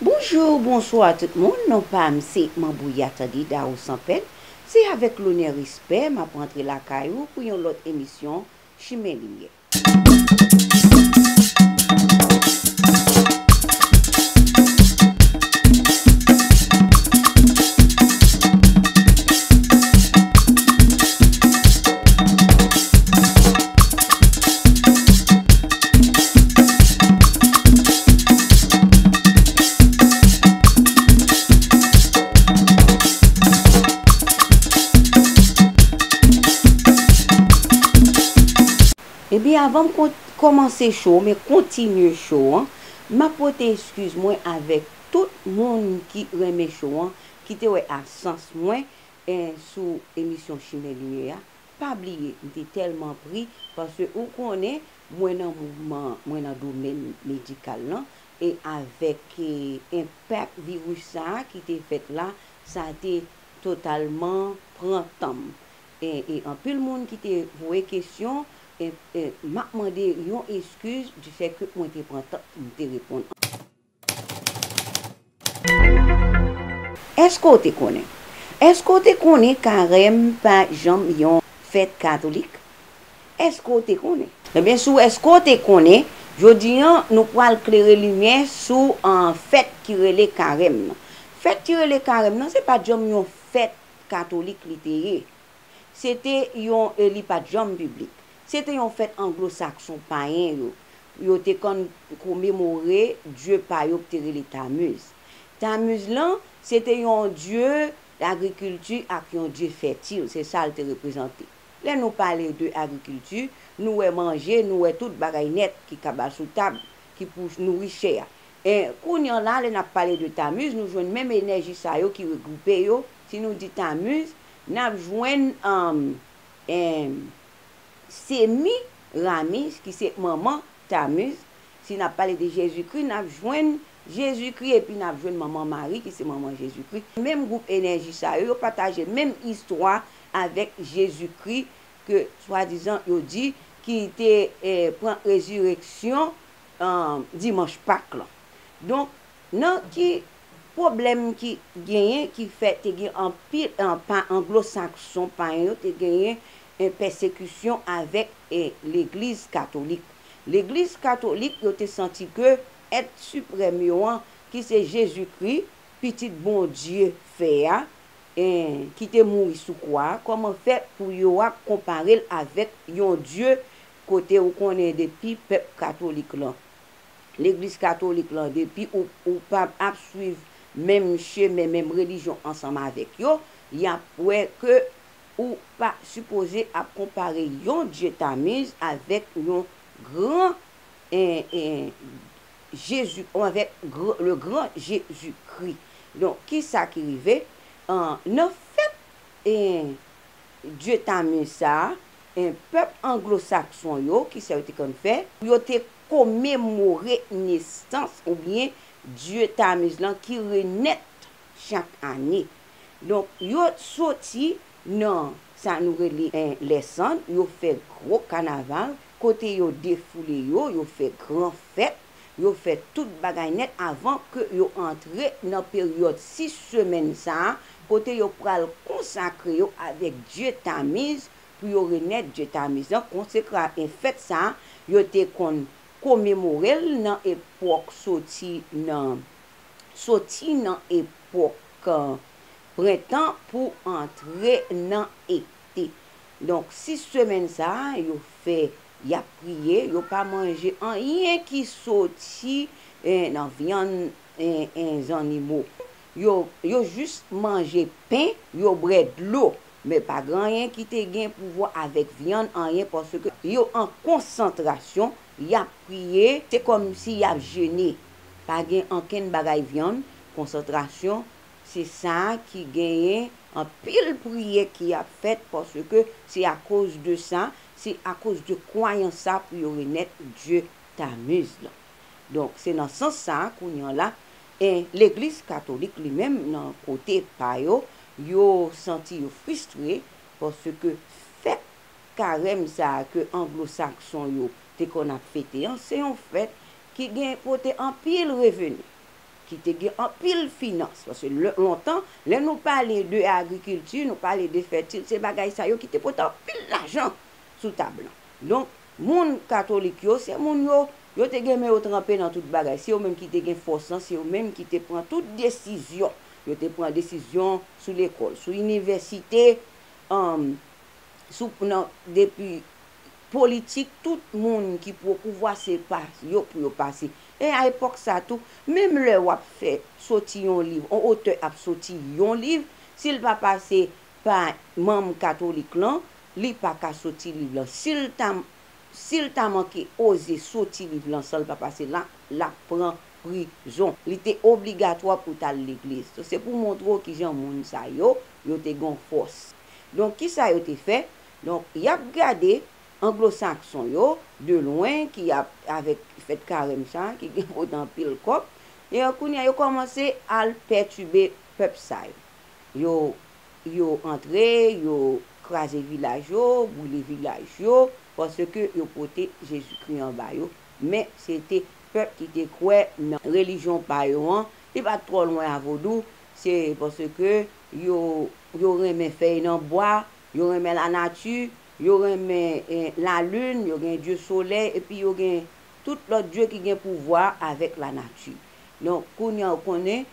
Bonjour bonsoir tout moun non pam se manbouya tande Darou sans peine se avek lonè respè map rantre lakay ou pou yon lot emisyon chimen limyè. Epi avan m kòmanse show men kontinye show an, map pote eskiz mwen avèk tout moun ki renmen show an, ki te wè absans mwen sou emisyon Chimè Limyè a, Pa bliye m te tèlman pri paske ou konnen mwen nan mouvman mwen nan domèn medikal lan e avèk enpak viris sa ki te fèt la sa te totalman pran tan m e anpil moun ki te voye kesyon m ap mande yon eskiz difèke mwen te pran tan pou m te reponn Eske w te konnen? Eske w te konnen karèm pa janm yon fèt katolik? Eske w te konnen? Ebyen sou eske w te konnen, jodi an nou pwal klere limyè sou fèt ki rele karèm nan. Fèt ki rele karèm nan se pat janm yon fèt katolik li te ye. Se te yon, li pa t janm piblik. Se te yon fèt Anglo-Sakson payen yo. Yo te konn komemore dye pa yo k te rele Tamuz. Tamuz lan, se te yon dye lagrikilti ak yon dye fètil. Se sa l te reprezante. Lè nou pale de agrikilti, nou wè manje, nou wè tout bagay nèt ki kaba sou tab, ki pou nouri chè a. E, kounye an la, lè n ap pale de Tamuz, nou jwenn menm enèji sa yo ki regwoupe yo. Si nou di Tamuz, Nap jwenn anm em Semi Ramiz ki se manman Tamuz, si nap pale de Jezikri nap jwenn Jezikri epi nap jwenn manman Mari ki se manman Jezikri, menm gwoup enèji sa yo, yo pataje menm istwa avèk Jezikri ke swadizan yo di ki te pran rezireksyon dimanch Pak lan. Donk Nan ki pwoblèm ki genyen ki fè te gen anpil pa anglosakson payen yo te genyen pèsekisyon avèk legliz katolik. Legliz katolik yo te santi ke èt siprèm yo an ki se Jezikri, Pitit Bondye fè a, ki te mouri sou kwa a, kòman fè pou yo ap konpare l avèk yon dye kote ou konnen depi pèp katolik lan legliz katolik lan depi ou ou pa ap swiv menm chemen menm relijyon ansanm avèk yo yap wè ke ou pa sipoze ap konpare yon Dye Tamuz avèk yon gran Jezu avèk le gran Jezu Kri donk kisa ki rive nan fèt Dye Tamuz sa pèp anglo sakson yo kisa yo te konn fè yo te komemore nesans oubyen dye Tamuz lan ki renèt chak ane. Donk, yo soti nan sa nou rele lè sand, yo fè gwo kanaval kote yo defoule yo, yo fè gran fèt, yo fè tout bagay nèt avan ke yo antre nan peryòd 6 semèn sa a kote yo pral konsakre yo avèk dye Tamuz, pou yo remèt dye Tamiz lan konsekra e fèt sa a yo te konn komemore l nan epòk soti nan soti nan epòk prentan pou antre nan ete. Donk, sis semèn sa a yo fè y ap priye, yo pa manje anyen ki soti nan vyann zannimo. Yo, yo jis manje pen, yo brè dlo, men pa gen anyen ki te gen pouvwa avèk vyann anyen paske yo an konsantrasyon, y ap priye, se kòm si y ap jene, pa gen ankenn bagay vyann, konsantrasyon, se sa ki genyen anpil priye ki ap fèt paske se akoz de sa, se akoz de kwayans sa pou yo renèt dye Tamuz lan. Donk se nan sans sa kounye an la E legliz katolik li menm nan kote pa yo, yo santi yo fristre paske fèt karèm sa a ke anglosakson yo te konn ap fete an, se yon fèt ki gen pote anpil reveni, ki te gen anpil finans. Paske lontan, lè nou pale de agrikilti, nou pale de fètil, se bagay sa yo ki te pote anpil lajan sou tab lan. Donk, Moun katolik yo, se moun yo, yo te gen men yo tranpe nan tout bagay. Se yo menm ki te gen fòs lan, se yo menm ki te pran tout desizyon. Yo te pran desizyon sou lekòl, sou inivèsite, depi politik, tout moun ki pou opouvwa se pa yo pou yo pase. E a epòk sa tou, menm lè w ap fè soti yon liv, yon otè ap soti yon liv, si l pa pase pa manm katolik lan, Li pa ka soti liv lan. Si l ta si l ta manke oze soti liv lan san l pa pase la, l ap pran prizon. Li te obligatwa pou t al legliz. Donk, se pou montre w ki jan moun sa yo, yo te gen yon fòs. Donk, ki sa yo te fè? Donk, y ap gade anglosakson yo de lwen ki ap avèk fèt karèm sa a ki gen pou t anpil kòb. E kounye a, yo kòmanse al pètibe pèp sa yo. Yo yo antre, yo kraze vilaj yo, boule vilaj yo, paske yo pote Jezikri an ba yo, men se te pèp ki te kwè nan relijyon pa yo an, li pa t twò lwen a vodou, se paske yo, yo renmen fèy nan bwa, yo renmen lanati, yo renmen lalin, yo gen dye solèy, epi yo gen tout lòt dye ki gen pouvwa avèk lanati. Donk, kounye a ou konnen.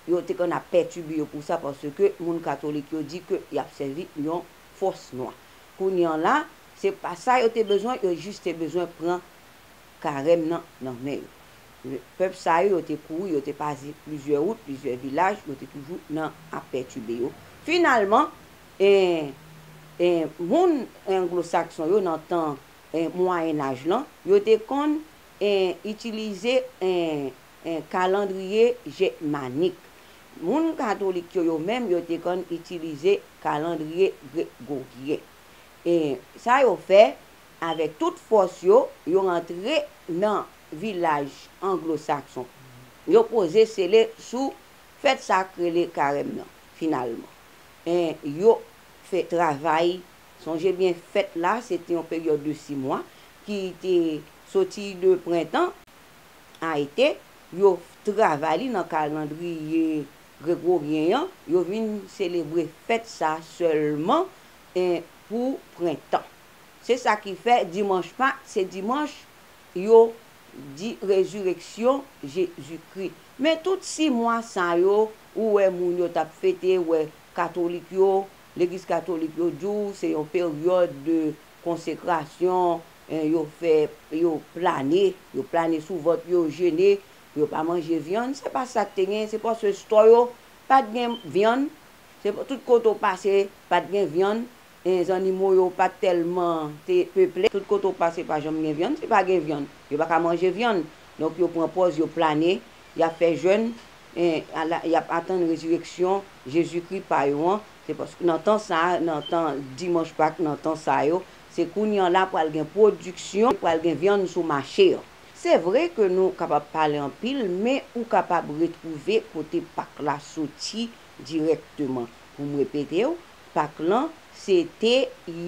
Yo te konn ap pètibe yo pou sa paske moun katolik yo di ke y ap sèvi yon fòs nwa. Kounye an la, se pa sa yo te bezwen, yo jis te bezwen pran karèm nan nan men yo. Pèp sa yo, yo te kouri, yo te pase plizyè wout, plizyè vilaj, yo te toujou nan ap pètibe yo. Finalman, moun anglosakson yo nan tan mwayenaj lan, yo te konn itilize. 1 Kalandriye Gèmanik Moun katolik yo yo menm yo te konn itilize kalandriye gregoryen. 1 Sa yo fè, avèk tout fòs yo, yo rantre nan vilaj anglosakson. Yo poze sele sou fèt sa k rele karèm nan. Finalman. 1 Yo fè travay Sonje byen fèt la se te yon peryòd de si mwa ki te soti de prentan. Ayite, yo travay li nan kalandriye gregoryen an, yo vin selebre fèt sa sèlman pou prentan. Se sa ki fè Dimanch Pak se dimanch yo di rezireksyon Jezikri. Men tout si mwa sa yo ou wè moun yo t ap fete, ou wè katolik yo, legliz katolik yo di w se yon peryòd de konsekrasyon, Yo fè yo plane, yo plane sou vant yo, yo jene pou yo pa manje vyann. Se pa sa k te gen, se paske stò yo pa t gen vyann. Se tout kote w pase, pa t gen vyann. Zannimo yo pa t tèlman te peple. Tout kote w pase pa janm gen vyann. Si pa gen vyann, yo pa ka manje vyann. Donk yo pran pòz yo plane, y ap fè jèn, y ap atann rezireksyon Jezikri pa yo an. Se paske nan tan sa a, nan tan Dimanch Pak, nan tan sa yo, Se kounye an la pral gen pwodiksyon, pral gen vyann sou mache an. Se vre ke nou kapab pale anpil men ou kapab retwouve kote pak la soti dirèkteman. Pou m repete w, pak lan se te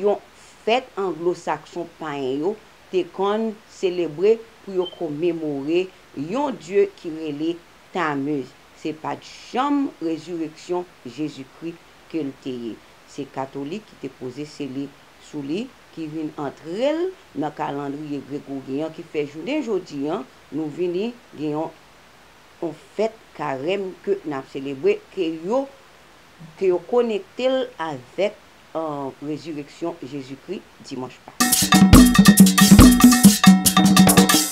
yon fèt anglosakson payen yo te konn selebre pou yo komemore yon dye ki rele Tamuz. Se pa t janm rezireksyon Jezikri ke l te ye. Se katolik ki te poze sele. sou li ki vin antre l nan kalandriye Gregoryen an ki fè jounen jodi an nou vini gen yon yon fèt karèm ke n ap selebre ke yo ke yo konekte l avèk rezireksyon Jezikri Dimanch Pak.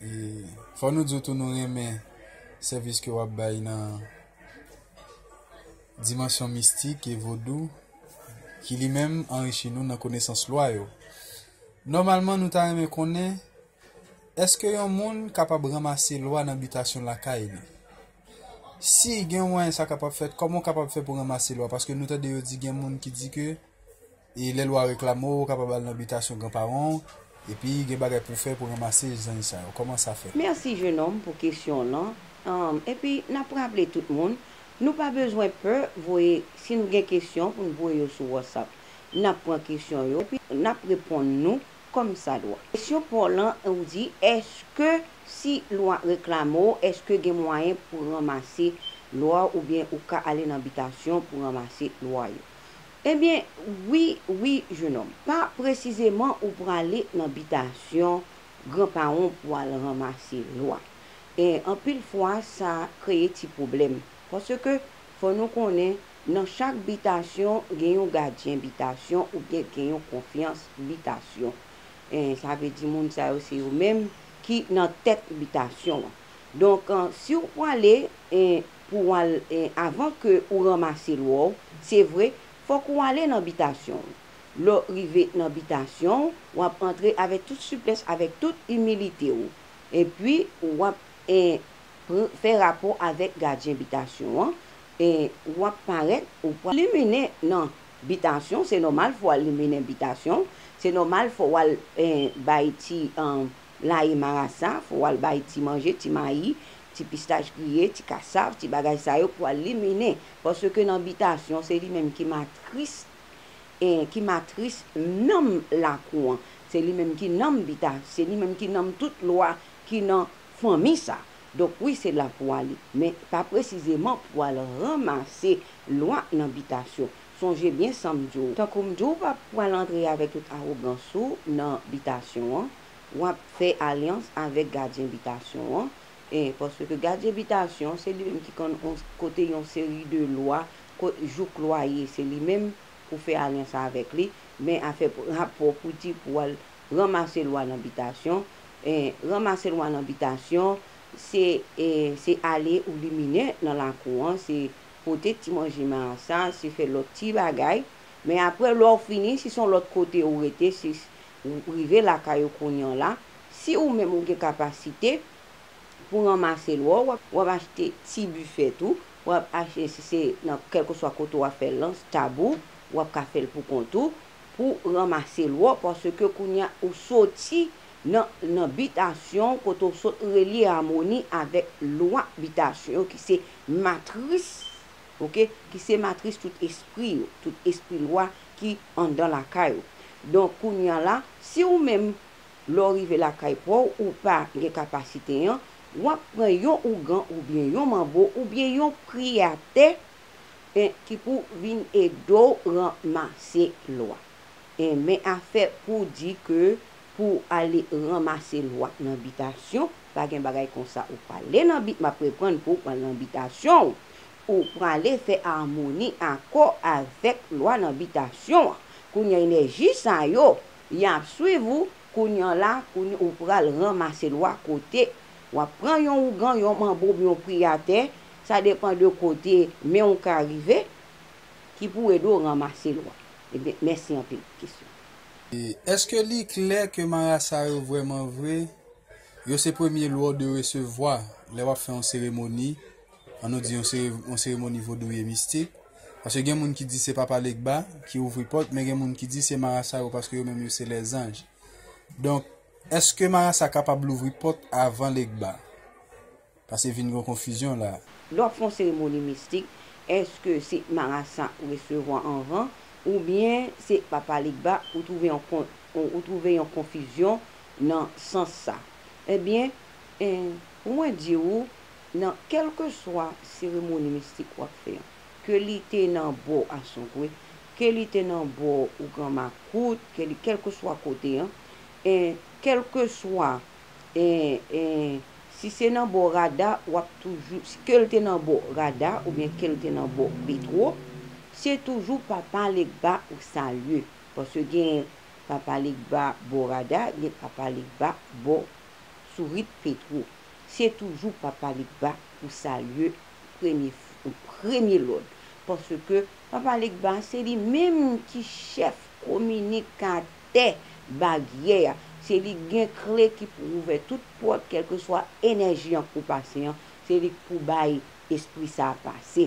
E fò nou diw tou nou renmen sèvis ke wap bay nan dimansyon mistik e vodou ki li menm anrichi nou nan konesans lwa yo. Nòmalman nou ta renmen konnen eske yon moun kapab ranmase lwa nan bitasyon lakay li. Si gen yon mwayen sa kapab fèt, kòman ou kapab fè pou ranmase lwa paske nou tande yo di gen moun ki di ke E lè lwa reklame w, ou kapab al nan bitasyon gran paran w, epi gen bagay pou w fè pou ranmase zanj sa yo. Kòman sa fèt? Merci jeune homme pou kesyon w lan, humm epi nap raple tout moun nou pa bezwen pè voye si nou gen kesyon pou n voye yo sou WhatsApp nap pran kesyon yo epi nap reponn nou kòm sa dwa. Kesyon paw lan ou di eske si lwa reklame w eske gen mwayen pou ranmase lwa w oubyen ou ka ale nan bitasyon pou ranmase lwa yo. Ebyen wi wi jenòm. Pa presizeman ou prale nan bitasyon gran paron pou al ranmase lwa. E anpil fwa sa kreye ti pwoblèm. Paske fò nou konnen nan chak bitasyon gen yon gadyen bitasyon oubyen gen yon konfyans bitasyon. E sa vle di moun sa yo se yo menm ki nan tèt bitasyon an. Donk si ou prale pou w al avan ke ou ranmase lwa w, se vre, fòk ou ale nan bitasyon w. Lè w rive nan bitasyon w, w ap antre avèk tout siplès, avèk tout imilite w, epi w ap fè rapò avèk gadyen bitasyon an, w ap parèt, ou pral liminen nan bitasyon, se nòmal fò w al liminen bitasyon w, se nòmal fò w al bay ti. Laye marasa, fò w al bay ti manje, ti mayi, ti pistach griye, ti kasav, ti bagay sa yo pou al liminen. Paske nan bitasyon, se li menm ki matris, ki matris nanm lakou an. Se li menm ki nanm bita, se li menm ki nanm tout lwa ki nan fanmi sa. Donk wi se la pou ale. Men pa presizeman pou al ranmase lwa nan bitasyon. Sonje byen sa m di w, tankou m di w pa pral antre avèk tout awogans ou nan bitasyon an, w ap fè alyans avèk gadyen bitasyon an, e paske gadyen bitasyon se li menm ki konn on kote yon seri de lwa ko jouk lwaye se li menm pou fè alyans avèk li, men afè rapò pou di pou w al ranmase lwa nan bitasyon, e ranmase lwa nan bitasyon se e se ale ou limine nan lakou an, se Pote ti manje ma sa se fè lòt ti bagay men aprè lè w fini si son lòt kote ou rete si w rive lakay ou kounyan la si ou menm ou gen kapasite pou ranmase lwa w w ap achte ti bifèt ou w ap achte si se nan kèlkeswa kote w ap fè lans tab ou w ap ka fè l pou kont ou pou ranmase lwa w paske kounye a ou soti nan nan bitasyon w kote w sot relye amoni avèk lwa bitasyon yo ki se matris ok ki se matris tout espri yo tout espri lwa ki andan lakay ou donk kounya la si ou menm lè ou rive lakay pa w ou pa gen kapasite an w ap pran yon ougan oubyen yon manbo oubyen yon pri atè en ki pou vin ede w ranmase lwa en men afè pou di ke pou ale ranmase lwa nan bitasyon. pa gen bagay konsa ou prale nan bit map reprann pouw pran nan bitasyon w ou prale fè amoni akò avèk lwa nan bitasyon an kounya enèji sa yo yap swiv ou kounya la kounya ou pral ranmase lwa kote wap pran yon ougan yon manbob yon priyatè sa depan de kote men w ka rive ki pou ede w ranmase lwa ebyen mèsi anpil pou kesyon an. Eske li klè ke marasa yo vrèman vre Yo se premye lwa w dwe resevwa lè w ap fè yon seremoni, an nou di yon seremoni vodouyè mistik, paske gen moun ki di se Papa Legba ki ouvri pòt men gen moun ki di se marasa yo paske yo menm yo se lèzanj. Donk, èske marasa kapab louvri pòt avan Legba? Pase vin gon konfizyon la. Lè w ap fè yon seremoni mistik, èske se marasa ou resevwa anvan oubyen se Papa Legba ou twouve yon ou twouve yon konfizyon nan sans sa? Ebyen, pou mwen di ou, nan kèlkeswa seremoni mistik w ap fè an, ke li te nan bò Asongwe, ke li te nan bò ou gran makout, ke li kèlkeswa kote an, kèlkeswa Eeh eeh si se nan bò rada wap toujou kel te nan bò rada oubyen kel te nan bò petro se toujou papa legba ou salye paske gen papa legba bò rada gen papa legba bò sourit petro se toujou papa legba ou salye premye an premye lòd paske papa legba se li menm ki chèf kominikatè. tè, baryè a. Se li k gen kle ki pou ouvè tout pòt kèlkeswa enèji an k pou pase an, se li k pou bay espri sa a pase.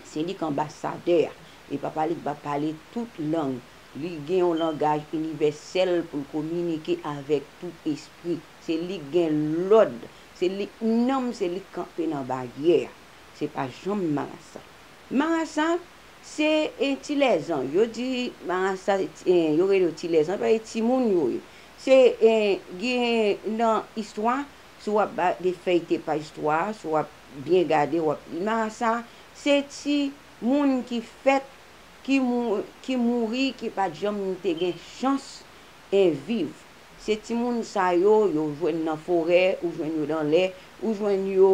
Se li k anbasadè a. E Papa li k va pale tout lang. Li gen yon langaj inivèsèl pou l kominike avèk tout espri. Se li k gen lòd. Se li k nonm, se li k kanpe nan baryè a. Se pa janm marasa. Marasa, Se ti lèzan. Yo di marasa yo rele yo ti lèzan paske ti moun yo ye. Se gen nan istwa, si w ap gade feyite pa istwa a, si w ap byen gade w ap, marasa se ti moun ki fèt, ki mouri, ki pa t janm te gen chans viv. Se ti moun sa yo, yo jwenn nan forè, ou jwenn yo nan lè, ou jwenn yo.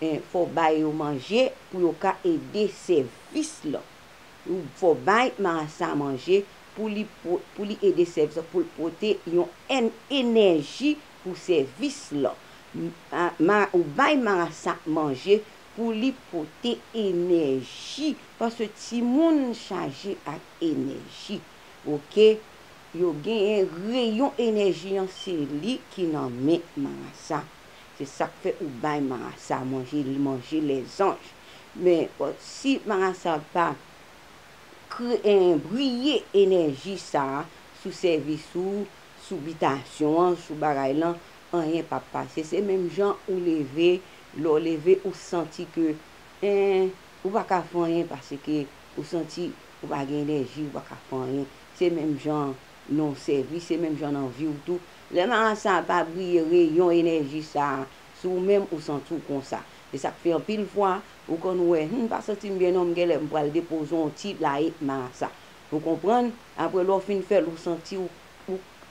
1 fò w bay yo manje pou yo ka ede sèvis lan ou fò w bay marasa manje pou li pou li ede sèvis lan pou l pote yon èn enèji pou sèvis lan ma ou bay marasa manje pou li pote enèji paske timoun chaje ak enèji ok yo genyen reyon enèji an se li ki nan men marasa. Se sak fè ou bay marasa a manje li manje lè zanj men si marasa pa briye enèji sa sou sèvis ou sou bitasyon an sou bagay lan anyen pap pase se menm jan ou leve lè ou leve ou santi ke ou pa ka fè anyen paske ou santi ou pa gen enèji ou pa ka fè anyen se menm jan nan sèvis se menm jan nan vi ou tou Lè marasa a pa briye reyon enèji sa a sou ou menm ou santi w konsa. E sa k fè anpil fwa ou konn wè Humm m pa santi m byen non m genlè m pral depoze yon ti laye marasa. Ou konprann? Apre lè w fin fè l ou santi w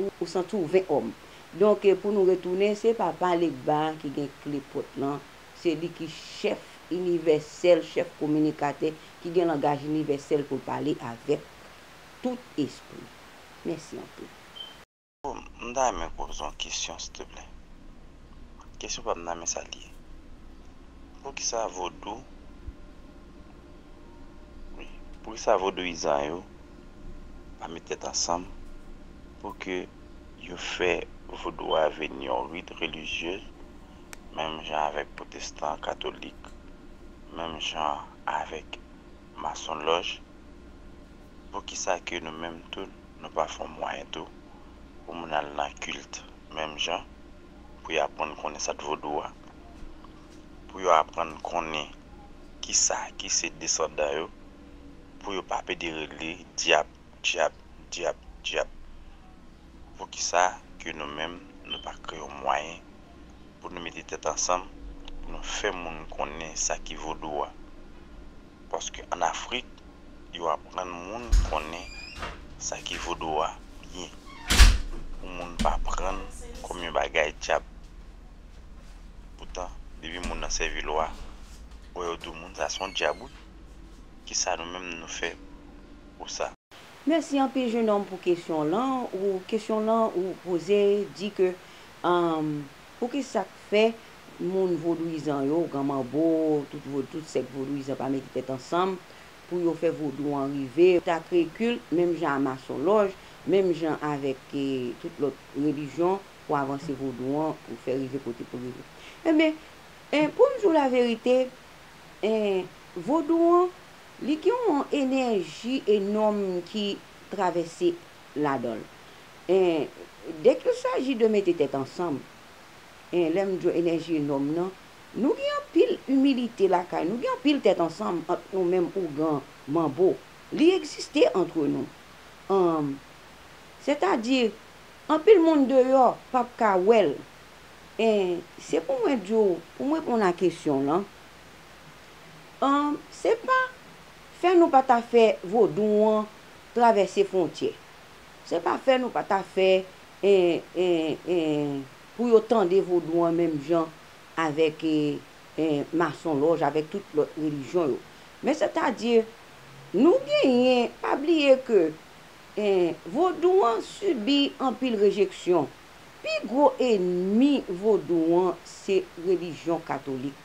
ou santi w ven òm. Donk pou nou retounen se Papa Legba ki gen kle pòt lan, se li ki chèf inivèsèl, chèf kominikatè ki gen langaj inivèsèl pou l pale avèk tout espri. Mèsi anpil. Bon m ta renmen poze w yon kesyon stplè. Kesyon pa m nan men sa li ye. Poukisa vodou wi poukisa vodouyizan yo pa met tèt ansanm pou ke yo fè vodou a vin yon rit relijye menm jan avèk pwotestan katolik menm jan avèk Masonloj poukisa ke nou menm tou nou pa fon mwayen tou pou moun al nan kilt menm jan pou yo apwann konnen sat vodou a pou yo apwann konnen kisa ki se desandan yo pou yo pa pede rele dyab dyab dyab dyab poukisa ke nou menm nou pa kreye yon mwayen pou nou mete tèt ansanm pou nou fè moun konnen sa ki vodou a paske an afrik yo aprann moun konnen sa ki vodou a byen pou moun pa prann kòm yon bagay dyab poutan depi moun nan sèvi lwa wè yo di moun sa son dyab wi kisa nou menm nou fè pou sa. Mèsi anpil jenòm pou kesyon w lan ou kesyon w lan ou poze di ke Humm pou ki sak fè moun vodouizan yo, gran manbo, tout vodou, tout sèk vodouizan pa mete tèt ansanm pou yo fè vodou an rive, ta kreye kilt menm jan a masonlòj, menm jan avèk tout lòt relijyon pou avanse vodou an pou fè rive kote pou rive. Enben en poum di w la verite en vodou an li gen yon enèji enòm ki travèse ladan l. En, dè kil saji de mete tèt ansanm, en, lè m djo enèji nonm nan, nou gen anpil imilite lakay nou, gen anpil tèt ansanm ant nou menm ougan manbo. Li egziste antre nou. Anm, sètadi, anpil moun deyò p ap ka wè l. En, se pou mwen di w, pou m reponn a kesyon w lan, anm, se pa fè nou pa ta fè vodou an travèse fwontyè. Se pa fè nou pa ta fè pou yo tande vodou an menm jan avèk masonlòj, avèk tout lòt relijyon yo. Men sètadi nou genyen, pa bliye ke vodou an sibi anpil rejeksyon. Pi gwo enmi vodou an se relijyon katolik.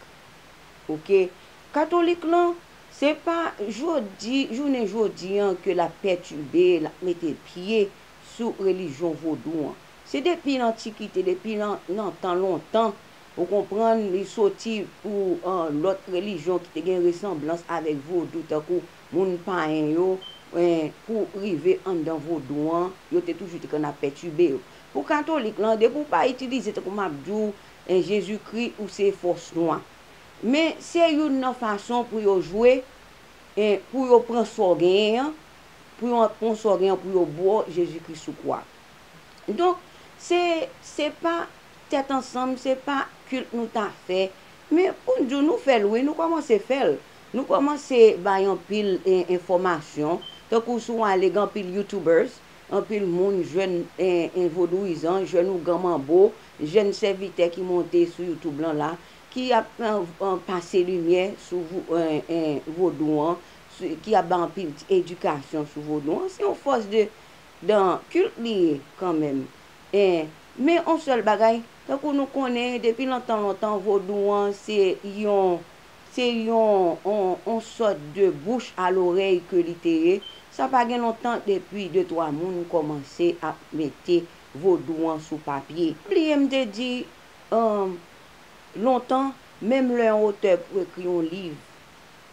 Ok. Katolik lan Se pa jodi, jounen jodi an ke l ap pètibe, l ap mete pye sou relijyon vodou an. Se depi lantikite, depi lan, lan tan lontan, ou konprann, li soti pou an lòt relijyon ki te gen resanblans avèk vodou tankou moun payen yo, en, pou rive anndan vodou an, yo te toujou te konn ap pètibe yo. Pou katolik lan, depi ou pa itilize, tankou m ap di w, en, Jezikri, ou se fòs nwa. Men se youn nan fason pou yo jwe e pou yo pran sa w genyen an, pou yo pran sa w genyen an pou yo bo w Jezi Kri sou kwa. Donk, se, se pa tèt ansanm, se pa kilt nou ta fè, men pou n di w nou fè l wi, nou kòmanse fè l. Nou kòmanse bay anpil e enfòmasyon, tankou si w ale gen anpil youtubers, anpil moun jèn e e vodouyizan, jèn ougan manbo, jèn sèvitè ki monte sou youtube lan la, Ki ap pase limyè sou vodou an, ki ap bay anpil ti edikasyon sou vodou an. Se yon fòs de dan kilt li ye kanmenm. Men yon sèl bagay, tankou nou konnen depi lontan lontan vodou an se yon se yon yon sòt de bouch a lorèy ke li te ye. Sa pa gen lontan depi de twa moun kòmanse ap mete vodou an sou papye. Bliye m te di Lontan, menm lè yon otè pou ekri yon liv,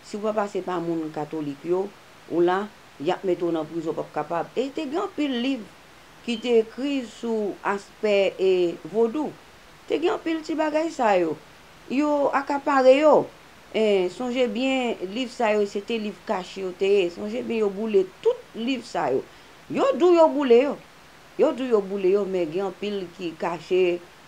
si ou pa pase pa moun katolik yo, ou la, y ap mete w nan prizon p ap kapab. E te gen anpil liv ki te ekri sou aspè e vodou. Te gen anpil ti bagay sa yo. Yo akapare yo. E sonje byen liv sa yo se te liv kache yo te ye. Sonje byen yo boule tout liv sa yo. Yo di w yo boule yo. Yo di w yo boule yo men gen anpil ki kache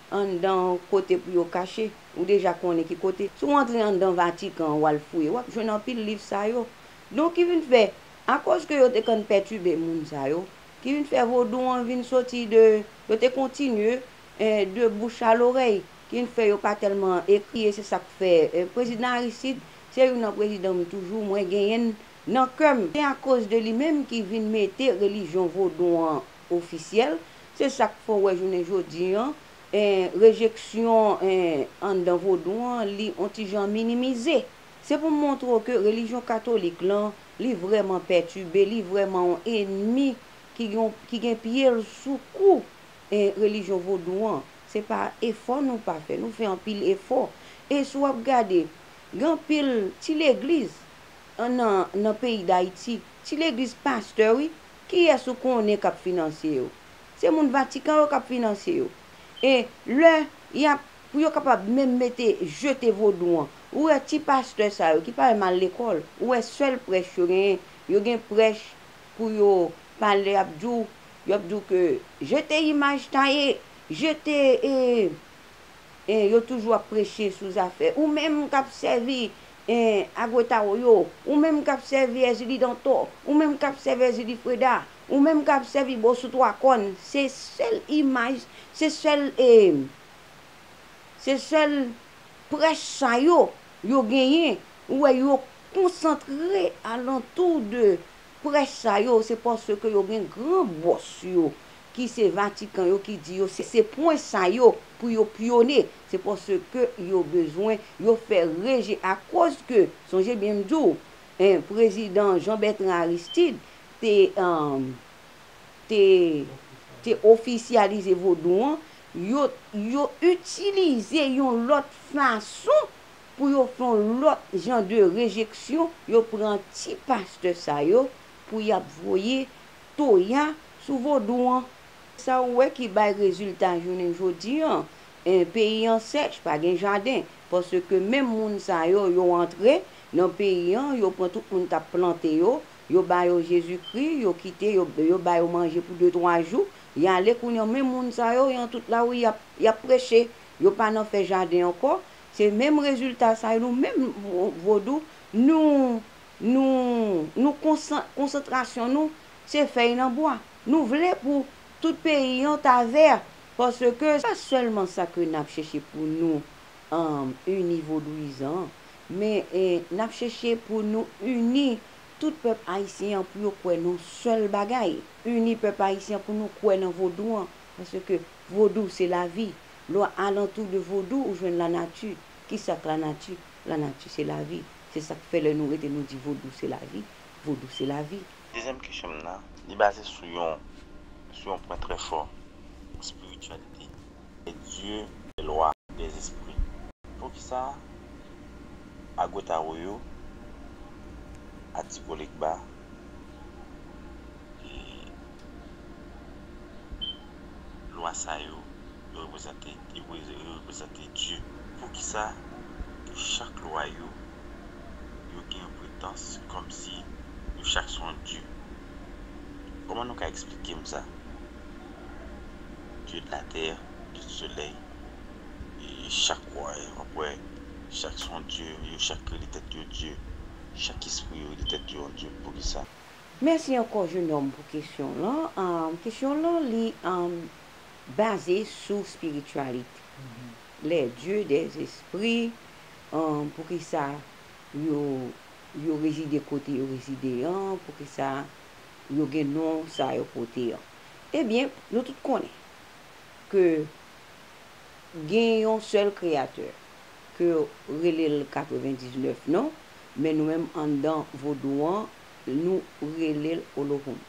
Anndan kote pou yo kache. Ou deja konnen ki kote. Si w antre anndan Vatikan an w al fouye, w ap jwenn anpil liv sa yo. Donk ki vin fè, akòz ke yo te konn pètibe moun sa yo, ki vin fè vodou an vin soti de, yo te kontinye de bouch a lorèy, ki vin fè yo pa tèlman ekri e se sa k fè Prezidan Aristide se youn nan prezidan m toujou mwen genyen nan kè m. Se akòz de li menm ki vin mete relijyon vodou an ofisyèl, se sa k fè w wè jounen jodi an, rejeksyon anndan vodou an, li on ti jan minimize. Se pou montre w ke relijyon katolik lan, li vrèman pètibe, li vrèman on enmi ki gen pye l sou kou relijyon vodou an. Se pa efò nou pa fè, nou fè anpil efò. E si w ap gade, gen anpil ti legliz nan peyi Dayiti, ti legliz pastè wi, Kiyès ou konnen k ap finansye yo? Se moun Vatikan yo k ap finansye yo. E lè y ap, pou yo kapab menm mete, jete vodou an, ou wè ti pastè sa yo ki pa menm al lekòl, ou wè sèl prèch yo genyen, yo gen prèch pou yo pale y ap di w, y ap di w ke jete imaj taye, jete e, e yo toujou ap preche sou zafè ou menm k ap sèvi eh Agwetaro yo, ou menm k ap sèvi Èzili Dantò, ou menm k ap sèvi Èzili Freda, ou menm k ap sèvi Bosou Twa Kòn, se sèl imaj, se sèl eh, se sèl prèch sa yo, yo genyen, ou wè yo konsantre alantou de prèch sa yo, se paske yo gen gran bòs yo ki se Vatikan yo ki di yo se pwen sa yo pou yo pyone, se paske yo bezwen yo fè reje akoz ke sonje byen m di w prezidan Jean Bertrand Aristide te te te ofisyalize vodou an yo yo itilize yon lòt fason pou yo fè yon lòt jan de rejeksyon yo pran ti pastè sa yo pou y ap voye toya sou vodou an. Sa ou wè ki bay rezilta jounen jodi an? En peyi an sèch, pa gen jaden. Paske menm moun sa yo, yo antre Nan peyi an, yo pran tout moun kap plante yo, yo ba yo Jezi kri, yo kite yo, yo ba yo manje pou de twa jou, yale kounye an menm moun sa yo, yan tout lari yap, yap preche, yo pa Nan fè jaden ankò, se menm rezilta sa yo nou menm vodou nou, nou, nou konsan, konsantrasyon nou se fèy nan bwa. Nou vle pou tout peyi yon ta ver paske. Pa selman sa ke nap cheche pou nou uni vodouizan men nap cheche pou nou uni tout pep ayisyen an pou yo kwe nan sel bagay uni pep ayisyen pou nou kwe nan vodou an paske vodou se lavi lwa alantou de vodou ou jwen lanati kisak lanati lanati se lavi se sak fe le nou rete nou di vodou se lavi vodou se lavi. Dezyèm kesyon m nan, li baze sou yon sou yon pwen trè fò, spirityalite, lè Dye lè lwa, lè zespri. Poukisa Agotawoyo, Atigo Legba, e lwa sa yo yo reprezante yo reprezante Dye? Poukisa ke chak lwa yo yo gen yon pretans kòmsi yo chak son dye. Kòman nou ka eksplike m sa? Dye de la tè, dye di solèy, chak w ap wè chak son dye, yo chak rele tèt yo dye, chak espri yo rele tèt yo yon dye, poukisa? Mèsi ankò jenòm pou kesyon w lan. Kesyon w lan li baze sou spirityalite. Lè dye de espri, an, poukisa yo yo rezide kote yo rezide an, poukisa yo gen non sa yo pote an. Ebyen, nou tout konnen ke gen yon sèl kreyatè ke yo rele l 99 non, men nou menm anndan vodou an, nou rele l Olohoun.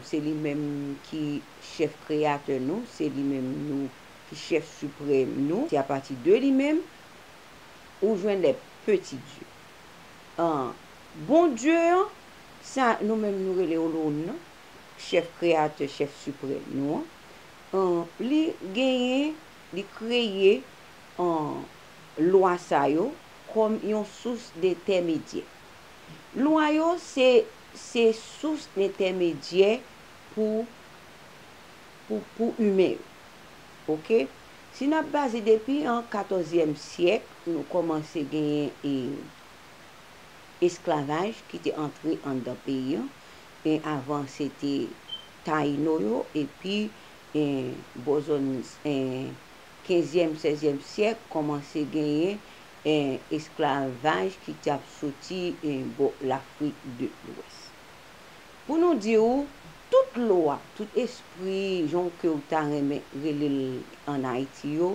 Se li menm ki chèf kreyatè nou, se li menm nou ki chèf siprèm nou, se apati de li menm ou jwenn lè peti Dye an, bon Dye an, sa nou menm nou rele Olowon nan, chèf kreyatè, chèf siprèm nou an, li genyen, li kreye lwa sa yo kòm yon sous dentèmedyè. Lwa yo se sous dentèmedyè pou. pou pou imen yo. Ok. Si n ap baze depi an katòzyèm syèk nou kòmanse genyen e esklavaj ki te antre anndan peyi an e avan se te Tayino yo epi e bò zòn e kenzyèm sèzyèm syèk kòmanse genyen e esklavaj ki t ap soti e bò Lafrik de Lwès. Pou nou di ou, tout lwa, tout espri, jan w ke w ta renmen rele l ann Ayiti yo,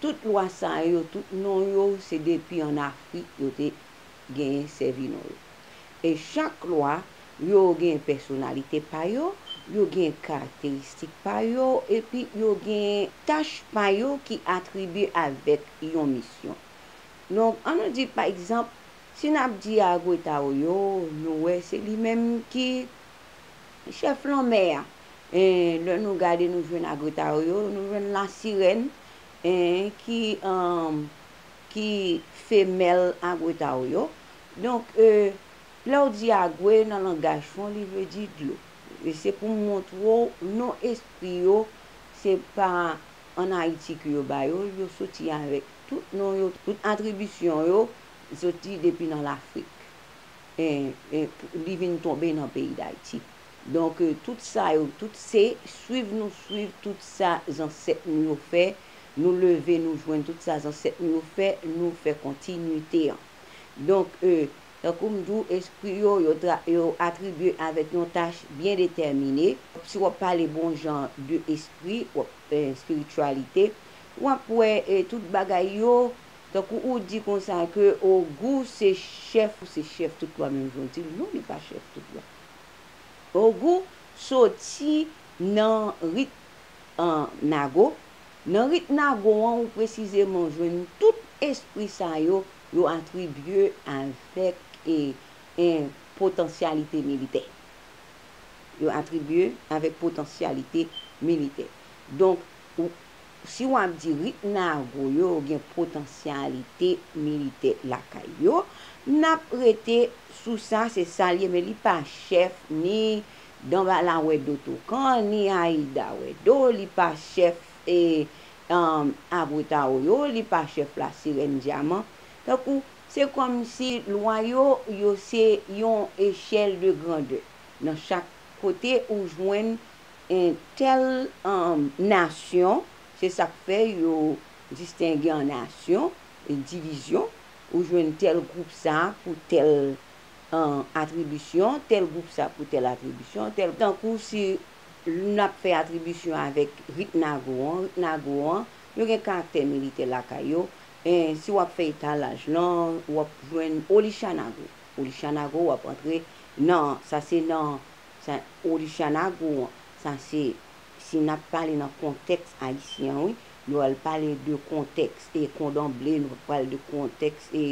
tout lwa sa yo, tout non yo, se depi ann Afrik yo te genyen sèvi non yo. E chak lwa, yo genyen pèsonalite pa yo, yo genyen karakteristik pa yo, epi yo genyen tach pa yo ki atribye avèk yon misyon. Donk, an nou di, pa egzanp, Si nap di Agwetao yo nou wè se li menm ki chèf lanmè a en lè nou gade nou jwenn Agwetao yo nou jwenn lasirèn en ki en ki femèl Agwetao yo donk e lèw di Agwe nan langaj fon li vle di dlo e se pou montre'w non espri yo se pa an Ayiti ke yo ba yo yo soti avèk tout non yo tout atribisyon yo soti depi nan lafrik li vin tonbe nan peyi dayiti donk tout sa yo tout se swiv nou swiv tout sa zansèt nou yo fè nou leve nou jwenn tout sa zansèt nou yo fè nou fè kontinite an donk tankou m di w espri yo yo atribye avèk yon tach byen detèmine si w ap pale bon jan de espri spirityalite w ap wè tout bagay yo. Tankou ou di konsa ke Ogou se chèf ou se chèf tout lwa menm jan w di l non li pa chèf tout lwa. Ogou soti nan rit Nago, nan rit Nago an ou presizeman jwenn tout espri sa yo, yo atribye avèk potansyalite militè. Yo atribye avèk potansyalite militè. Donk ou. Si w ap di rit Nago yo gen potansyalite militè lakay yo, n ap rete sou sa se sa l ye men li pa chèf ni Danbala Wèdo Tokan ni Ayida Wèdo, li pa chèf Abwetao yo, li pa chèf Lasirèn Dyaman. Tankou se kòmsi lwa yo, yo se yon echèl de grandè. Nan chak kote ou jwenn on tèl nasyon, se sa k fè yo distenge an nasyon, divizyon, ou jwenn tèl gwoup sa pou tèl atribisyon, tèl gwoup sa pou tèl atribisyon, tankou si n ap fè atribisyon avèk rit nago an, rit nago an, yo gen karaktè militè lakay yo, si w ap fè etalaj lan, w ap jwenn Olisha nago, Olisha nago w ap antre nan, sa se nan Sa Olysiana gou an. Sa se si nap pale nan kontèks ayisyen an wi, yo al pale de kontèks e kondanble nou pral de kontèks e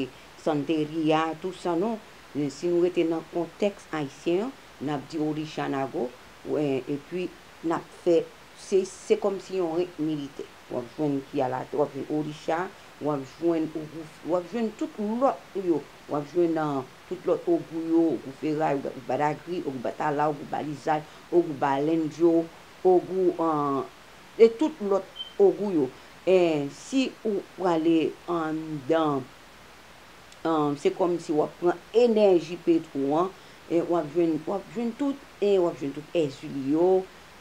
santeria tou sa non si nou rete nan kontèks ayisyen an nap di Olysiana gou epi nap fè se se kòmsi yon rent militè wap jwenn ki al atè wap jwenn Olysia wap jwenn ou wap jwenn tout lòt yo wap jwenn an. Tout lòt ogou yo, ogou feray, ogou badagri, ogou batala, ogou balizay, ogou balendyo, ogou e tout lòt ogou yo. E si ou prale anndan se kòmsi w ap pran enèji petwo an w ap jwenn w ap jwenn tout e w ap jwenn tout èzili yo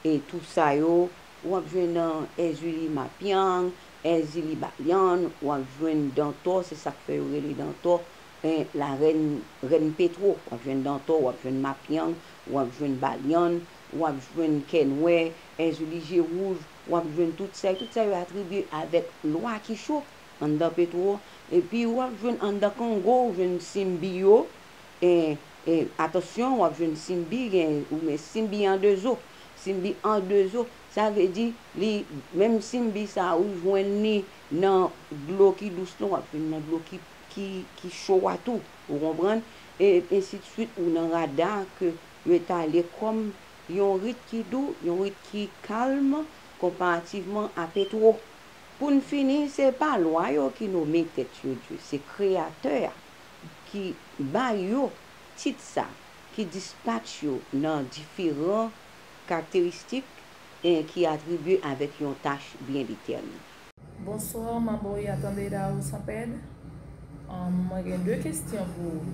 e tout sa yo w ap jwenn èzili mapyang, èzili balyann, w ap jwenn dantò se sa k fè yo rele dantò Hein la reine reine petro wap jwenn dantò wap jwenn mapyang wap jwenn balyann wap jwenn kè nwè èzili je wouj wap jwenn tout sa yo tout sa yo atribye avèk lwa ki cho anndan petro epi wap jwenn anndan kongo ou jwenn simbi yo e e atansyon wap jwenn simbi gen ou men simbi an de zo simbi an de zo sa vle di li menm simbi sa ou jwenn li nan dlo ki dous lan wap jwenn nan dlo ki ki cho a tou ou konprann e ensidswit ou nan rada ke yo etale kòm yon rit ki dou yon rit ki kalm konparativman a petwo pou n fini se pa lwa yo ki nome tèt yo dye se kreyatè a ki ba yo tit sa ki dispatch yo nan diferan karakteristik e ki atribye avèk yon tach byen detèmine. Bonsoir ma boo ya tande da ou san pèd um mwen gen 2 kesyon pou ou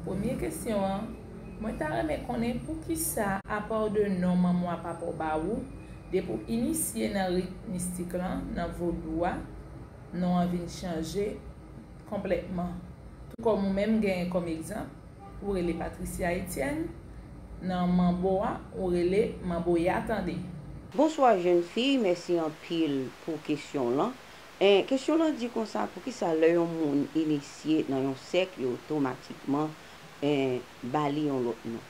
premye kesyon an mwen ta renmen konnen poukisa apaw de non manmwa papaw ba ou depi ou inisye nan rit mistik lan nan vodou a non an vin chanje konplètman tou kòm ou menm genyen kòm egzanp Ou rele Patricia Etienne nan manbo a ou rele manbo ya tande. Bonswa jèn fi mèsi anpil pou kesyon w lan en kesyon w lan di konsa poukisa lè yon moun inisye nan yon sèk yo otomatikman en ba li yon lòt non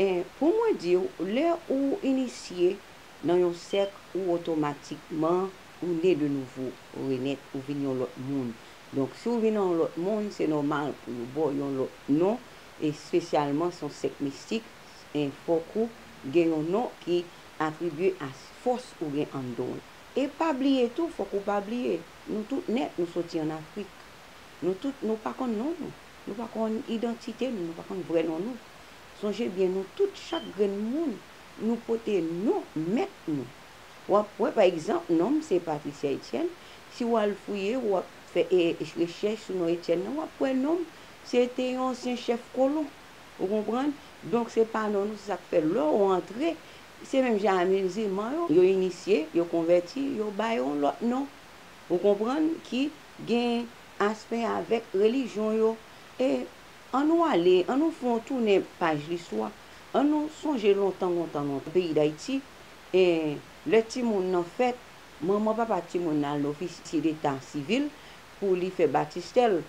en pou mwen di w lè ou inisye nan yon sèk ou otomatikman ou ne de nouvo ou renèt ou vin yon lòt moun Donk si w vin nan yon lòt monn, se nòmal pou yo ba w yon lòt non, espesyalman si w sèk mistik, fòk ou gen yon non ki atribye a fòs ou gen anndan w. E pa bliye tou, fòk ou pa bliye, nou tout nèt nou soti an Afrik. Nou tout nou pa konn non nou. Nou pa konn idantite nou, nou pa konn vrè non nou. Sonje byen nou tout, chak grenn moun, nou pote non mèt nou. w ap wè pa egzanp non m se Patricia Etienne, si w al fouye w ap fè rechèch sou non Etienne nan w ap wè non m se te yon ansyen chèf kolon ou konprann donk se pa non nou se sa k fè lè w antre se menm jan a mizilman yo, yo inisye, yo konvèti yo ba yo yon lòt non ou konprann ki gen aspè avèk relijyon yo e an nou ale an nou fè yon tounen paj listwa an nou sonje lontan lontan lontan peyi Dayiti E, lè timoun nan fèt, manman papa timoun nan al nan ofisye deta sivil pou li fè batistè l.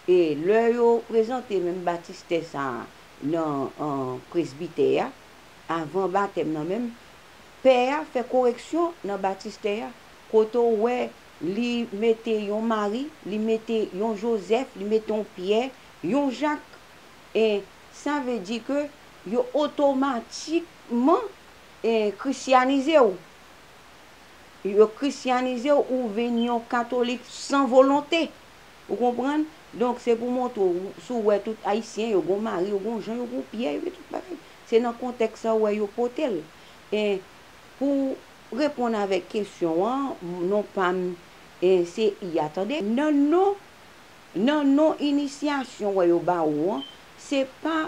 E, lè yo prezante menm batistè sa a nan presbitè a, avan batèm nan menm, pè a fè koreksyon nan batistè a, kote w wè li mete yon Mari, li mete yon Jozèf, li mete yon Pyè, yon Jak. E, sa vle di ke yo otomatikman. krisyanize w. Yo krisyanize w, ou vin yon katolik san volonte. Ou konprann? Donk, se pou montre w, si w wè tout Ayisyen, yo gon mari, yo gon jan, yo gon pyè, yo gen tout bagay. Se nan kontèks sa a ou wè yo pote l. E, pou reponn avèk kesyon an, non pa m se Iya, tande. Nan non, nan non inisyasyon wè yo ba ou an, se pa.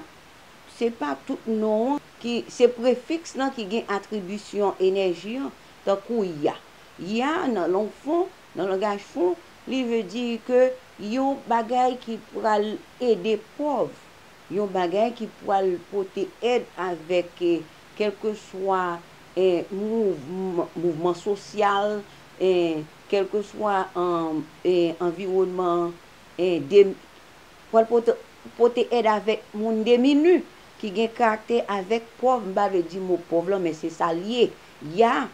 Se pa tout non an ki se prefiks lan ki gen atribisyon enèji an, tankou ya. Ya nan lang fon, nan langaj fon, li vle di ke yon bagay ki pral ede pòv, yon bagay ki pral pote èd avèk kèlkeswa mouvman sosyal, kèlkeswa anviwònman Pòl pote èd avèk moun demini, ki gen karaktè avèk pòv, m pa vle di mo pòv lan men se sa l ye, ya,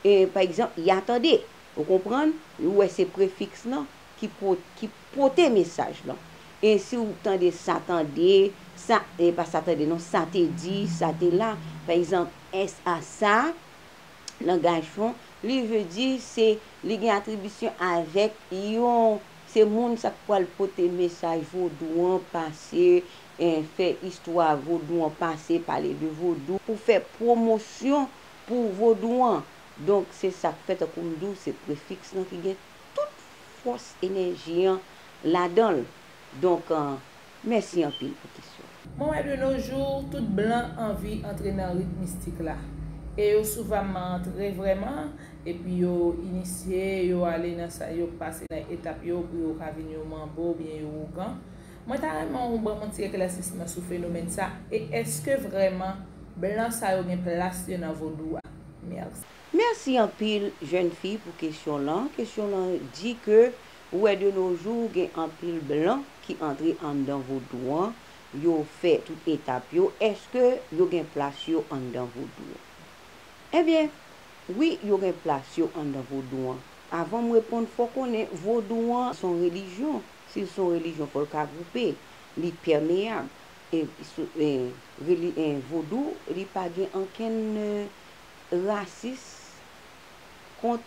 e, pa egzanp, ya tande. Ou konprann? Ou wè se prefiks lan ki po, ki pote mesaj lan. E si ou tande sa tande, sa, e pa sa tande non, sa te di, sa te la, pa egzanp, sa, sa, langaj fon, li vle di se, li gen atribisyon avèk yon Se moun sa k pwal pote mesaj vodou an pase fè istwa vodou an pase pale de vodou pou fè pwomosyon pou vodou an donk se sa k fè tankou m di w se prefiks lan ki gen tout fòs enèji an ladan l donk Mèsi anpil pou kesyon. Mwen wè de nos jours tout blan anvi antre nan rit mistik la e yo souvamman antre vrèman epi yo inisye yo ale nan sa yo pase nan etap yo pou yo ka vin yon manbo oubyen yo ougan mwen ta renmen ou banm yon ti eklèsisman sou fenomèn sa e eske vrèman blan sa yo gen plas yo nan vodou a merci. Mèsi anpil jèn fi pou kesyon lan, kesyon lan di ke Ou wè de no jou gen anpil blan ki antre anndan vodou an, yo fè tout etap yo, eske yo gen plas yo anndan vodou? Ebyen, wi yo gen plas yo anndan vodou an. Avan m reponn fò w konnen vodou an s on relijyon, si l s on relijyon fò l ka gwoupe, li pèmeyab, e vodou li pa gen ankenn rasis kont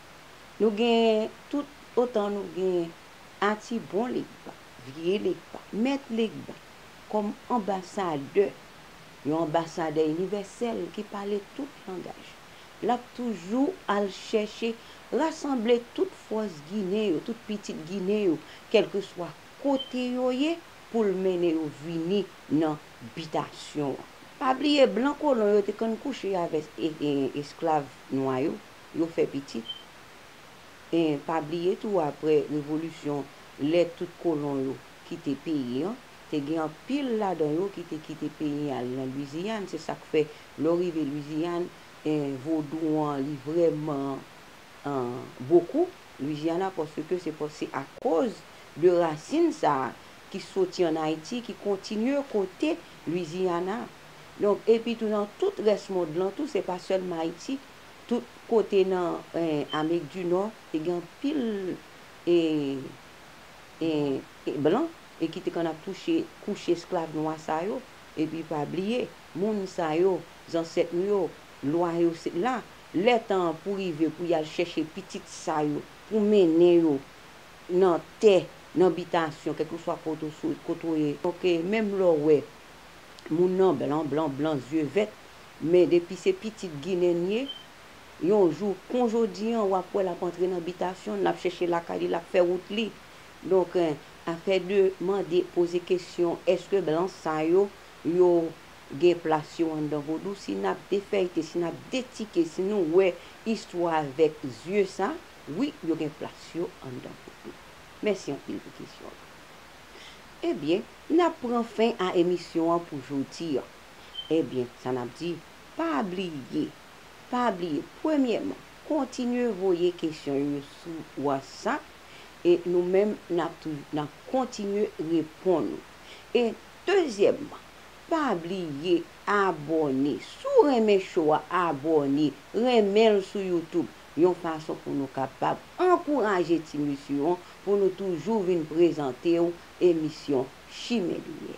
Nou gen tout otan nou gen Ati bon Legba, vye Legba, mèt Legba kòm anbasadè, yon anbasadè inivèsèl ki pale tout langaj, l ap toujou al chèche rasanble tout fòs Ginen yo, tout pitit Ginen yo, kèlkeswa kote yo ye, pou l mennen yo vini nan bitasyon an. Pa bliye blan kolon yo te konn kouche avèk esklav nwa yo. yo fè pitit e pa bliye tou aprè revolisyon lè tout kolon yo kite peyi an te gen anpil ladan yo ki te kite peyi an al nan Lwiziyann se sak fè lè w rive Lwiziyann e vodou an li vrèman an bokou Lwizyana paske se pa se akoz de rasin sa a ki soti an Ayiti ki kontinye kote Lwizyana donk epi tou nan tout rès mond lan tou se pa sèlman Ayiti. Tout kote nan Amerik di Nò te gen anpil blan e ki te konn ap touche kouche esklav nwa sa yo. Epi pa bliye, moun sa yo, zansèt nou yo, lwa yo se la. Lè tan an pou rive pou y al chèche pitit sa yo, pou mennen yo nan tè, nan bitasyon, kèlkeswa kote w ye. Donk, menm lè w wè moun nan blan blan blan, zye vèt, Men depi se pitit ginen ye yon jou kon jodi an wap wè lap antre nan bitasyon l lap chèche lakay li lap fè wout li donk afè de mande poze kesyon eske blan sa yo yo gen plas yo anndan vodou si nap defèyte si nap detike si nou wè istwa avèk zye sa wi yo gen plas yo anndan vodou mèsi anpil pou kesyon ebyen nap pran fen a emisyon an pou jodi an. Ebyen, sa n ap di, pa bliye, pa bliye, premyèman, kontinye voye kesyon yo sou Whatsapp e nou menm n ap toujou, n ap kontinye reponn ou. E dezyèmman, pa bliye abòne, si w renmen show a, abòne, renmen l sou YouTube, yon fason pou nou kapab ankouraje ti mesye an pou nou toujou vin prezante w emisyon Chimè Limyè.